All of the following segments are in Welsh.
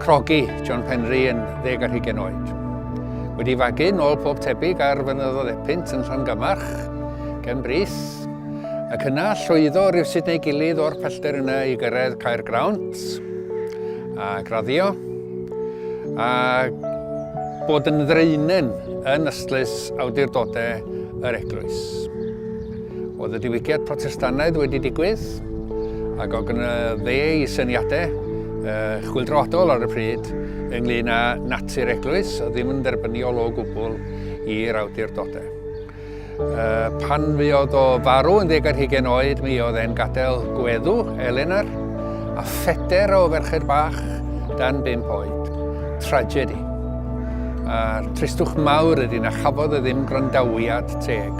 Crogi, John Penry yn ddeg ar hugen oed. Wedi fagu nôl pob tebyg ar fynyddodd Epynt yn Llangamarch, gen bris, ac yna llwyddo rhywsut neu gilydd o'r pellter yna i gyrraedd Caer Grawnt a graddio, a bod yn ddreinen yn ystlys awdurdodau yr eglwys. Oedd y diwygiad Protestannaidd wedi digwydd, ac oedd gyda fe i syniadau uh, chwildroadol ar y pryd ynglyn â natur eglwys, a ddim yn dderbyniol o gwbl i'r awdurdodau. Uh, pan fuodd o farw yn ddeg ar hugen oed, mi oedd e'n gadael gweddu, Eleanor, a ffeder o ferched bach dan bimp oed. Tragedi. A'r tristwch mawr ydy na chafodd e ddim gwrandawiad teg.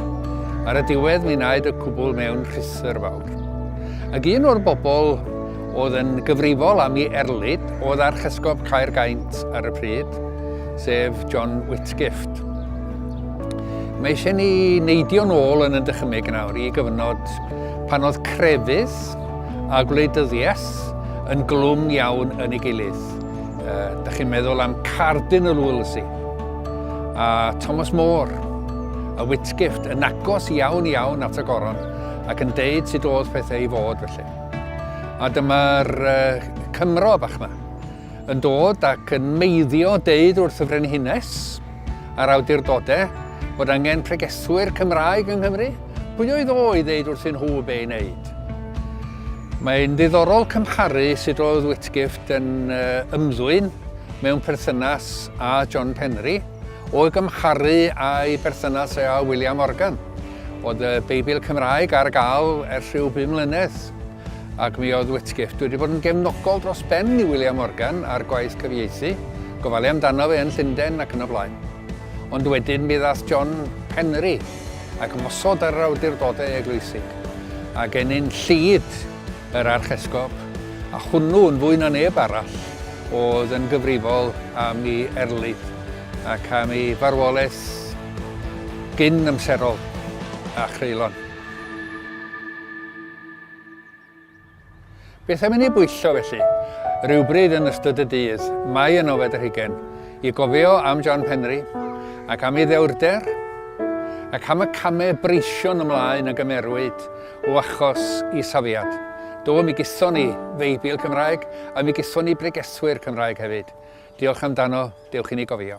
Ar y diwedd mi wnaed y cwbl mewn rhithwr fawr. Ac un o'r bobl oedd yn gyfrifol am i erlid oedd Archesgob Caergaint ar y pryd, sef John Whitgift. Mae eisiau ni neidio'n ôl yn y dychymyg nawr i gyfnod pan oedd crefydd a gwleidyddiaeth yn glwm iawn yn ei gilydd. Uh, da chi'n meddwl am Cardinal Wolsey a Thomas More, y Whitgift, yn agos iawn iawn at y goron ac yn deud sut oedd pethau i fod felly. A dyma'r uh, Cymro bach yma yn dod ac yn meiddio deud wrth y Frenhines a'r awdurdodau bod angen pregethwyr Cymraeg yng Nghymru. Pwy oedd o i ddeud wrthyn nhw be i wneud? Mae'n ddiddorol cymharu sut oedd Whitgift yn ymddwyn mewn perthynas â John Penry o'i gymharu â'i berthynas â William Morgan. Oedd y Beibl Cymraeg ar gael ers rhyw bum mlynedd ac mi oedd Whitgift wedi bod yn gefnogol dros ben i William Morgan ar gwaith cyfieithu, gofalu amdano fe yn Llundain ac yn y blaen. Ond wedyn mi ddath John Penry ac ymosod ar yr awdurdodau eglwysig, a gennin Llŷd, yr archesgob, a hwnnw yn fwy na neb arall oedd yn gyfrifol am ei erlid ac am ei farwolaeth gyn-amserol a chreulon. Beth am i ni bwyllo felly? Rywbryd yn ystod y dydd, mae yn ofed yr hugen, i gofio am John Penri, ac am ei ddewrder, ac am y camau breision ymlaen a gymerwyd o achos i safiad. Do, mi gyson ni Feibl Cymraeg, a mi gyson ni bregeswyr Cymraeg hefyd. Diolch amdano, dewch i ni gofio.